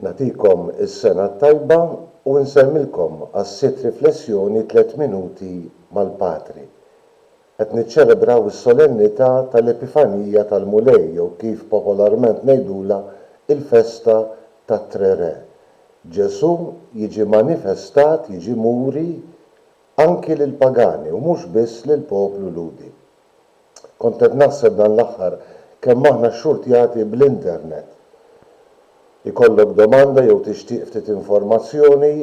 Nagħtikom is-sena t-tajba u nsellmilkom għas-sitt riflessjoni Tliet Minuti mal-Patri. Qed niċċelebraw is-solennità tal-Epifanija tal-Mulej jew kif popolarment ngħidulha il-festa tat-Tre Re. Ġesù jiġi manifestat, jiġi muri anki lill-pagani u mhux biss lill-poplu Lhudi. Kont qed naħseb dan l-aħħar kemm aħna xxurtjati bl-internet. Ikollok domanda jew tixtieq ftit informazzjoni,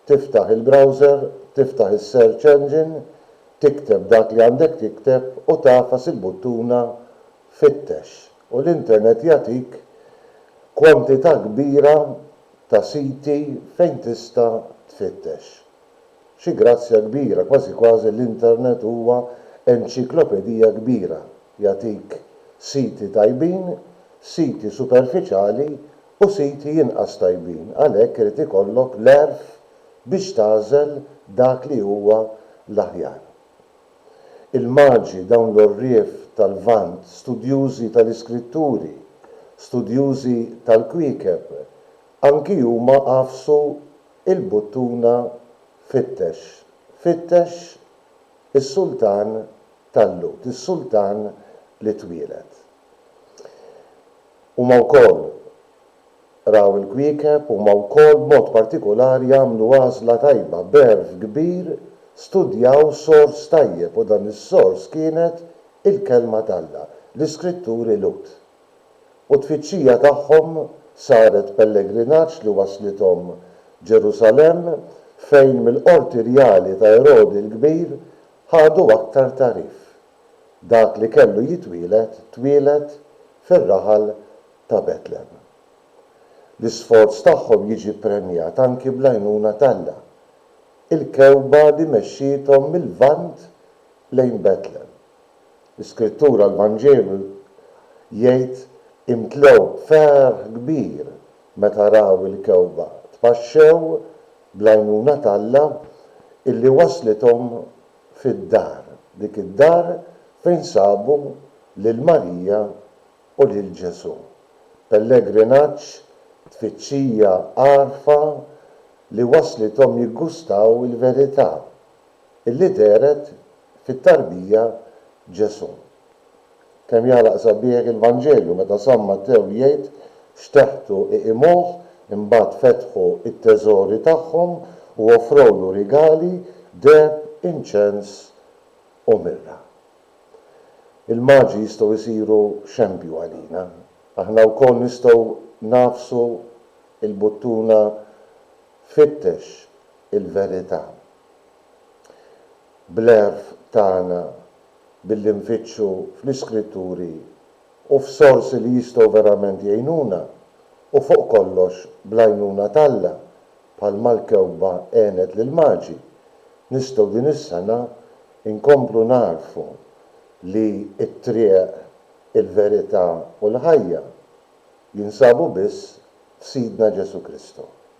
tiftaħ il-browser, tiftaħ is-search engine, tikteb dak li għandek tikteb u tagħfas il-buttuna fittex u l-internet jagħtik kwantità kbira ta' siti fejn tista' tfittex. Xi grazzja kbira, kważi kważi l-internet huwa enċiklopedija kbira, jagħtik siti tajbin, siti superfiċjali u siti inqas tajbin, għalhekk irid ikollok l-għerf biex tagħżel dak li huwa l-aħjar. Il-Maġi, dawn l-għorrief tal-Lvant, studjużi tal-iskritturi, studjużi tal-kwiekeb, anki huma għafsu Il-buttuna fittex, fittex is-sultan tal-Lhud, is-sultan li twieled. Huma wkoll raw il-kwiekeb, huma wkoll b'mod partikulari għamlu għażla tajba, b'għerf kbir studjaw sors tajjeb u dan is-sors kienet il-Kelma t'Alla, l-Iskritturi Lhud. u t-tfittxija tagħhom saret pellegrinaġġ li wasslithom Ġerusalemm fejn mill-qorti rjali ta' Erodi l-Kbir ħadu aktar tagħrif, Dak li kellu jitwieled twieled fir-raħal ta' Betlem. L-isforz tagħhom jiġi ppremjat anki bl-għajnuna t'Alla, il-kewkba li mexxiethom mil-Lvant lejn Betlem. L-Iskrittura, l-Vanġelu, jgħid, Imtlew b'ferħ kbir meta raw il-kewkba, tpaxxew bl-għajnuna t'Alla illi wasslithom fid-dar, dik id-dar fejn sabu lil Marija u lil Ġesù. Pellegrinaġġ, tfittxija, għarfa li wasslithom jiggustaw il-verità illi dehret fit-tarbija Ġesù. Kemm jagħlaq sabiħ il-Vanġelju meta San Mattew jgħid, Fxteħtu iqimuh, imbagħad fetħu t-teżori tagħhom u offrowlu rigali, deheb, inċens u mirra. Il-Maġi jistgħu jsiru xempju għalina. Aħna wkoll nistgħu nagħfsu l-buttuna Fittex il-verità. bl-għerf tagħna billi nfittxu fl-Iskritturi u f'sorsi li jistgħu verament jgħinuna, u fuq kollox bl-għajnuna t'Alla, bħalma l-kewkba għenet lill-Maġi, nistgħu din is-sena nkomplu nagħrfu li t-triq, il-verità u l-ħajja jinsabu biss f'Sidna Ġesù Kristu.